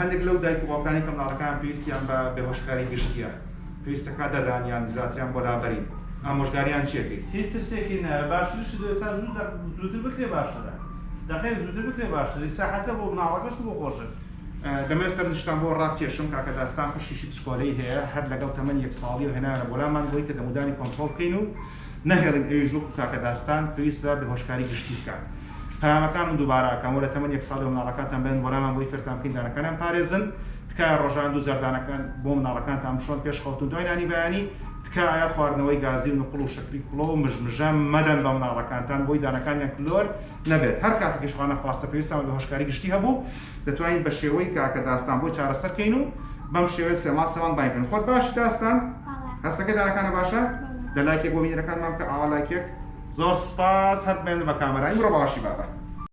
هەندێک لەو دایک و باوکانەی کە منداڵەکانیان پێویستیان بە بێهۆشکاری گشتییە، پێویستە کات دەدان یان زیاتریان بۆ لابەرین، ئامۆژگارییان چی ئەکەیت؟ هیچ ترسێکی نایە باشترشت دەبێت تا زوو دەق زووتر بکرێت باشترە دەقێک زووتر بکرێت باشترە ئیسراحەتە بۆ مناڵەکەش و بۆ خۆشت. دەمەوێت سەرنجتان بۆ ڕابکێشم کاکە داستان خوشکیشی پسکۆلەی هەیە هەر لەگەڵ تەمەنی یەک ساڵیەوە هێنایانە بۆ لامان بۆی کە دەمودانی کۆنتڕۆڵ بکەین و نەهێڵین ئەویش وەکو کاکە داستان پێویست بە بێهۆشکاری گشتی بکات پەیامەکانم دووبارە ئەکەم وەرە تەمەن یەک ساڵی بە مناڵەکانتان بدەن وەلامان بۆی فێرتان بکەین دانەکانیان بپارێزن تکایە ڕۆژانە دوو جار دانەکان بۆ مناڵەکانتان بشۆن پێش خەوتن دوای نانی بەیانی تکایە خواردنەوەی گازی و نقڵ و شەکری کوڵۆ و مژمژە مەدەن بە مناڵەکانتان بۆی دانەکانیان کلۆر نەبێت هەر کاتێکیش خوانەخواستە پێویستمان بە هۆشکاری گشتی هەبوو دەتوانین بە شێوەی کاکە داستان بۆی چارەسەر کەین و بەم شێوەیە سێ مانگ سێوان بانگ کەین خۆت باشی داستان؟ بەڵێ. هەستەکەی دانەکانە باشە؟ بەڵێ. دە لایکێک بۆ بینەرەکانمان بکە ئاوا لایکێک. زۆر سوپاس هەر بمێنن بە کامەرا ئیمڕۆ باشی بابە.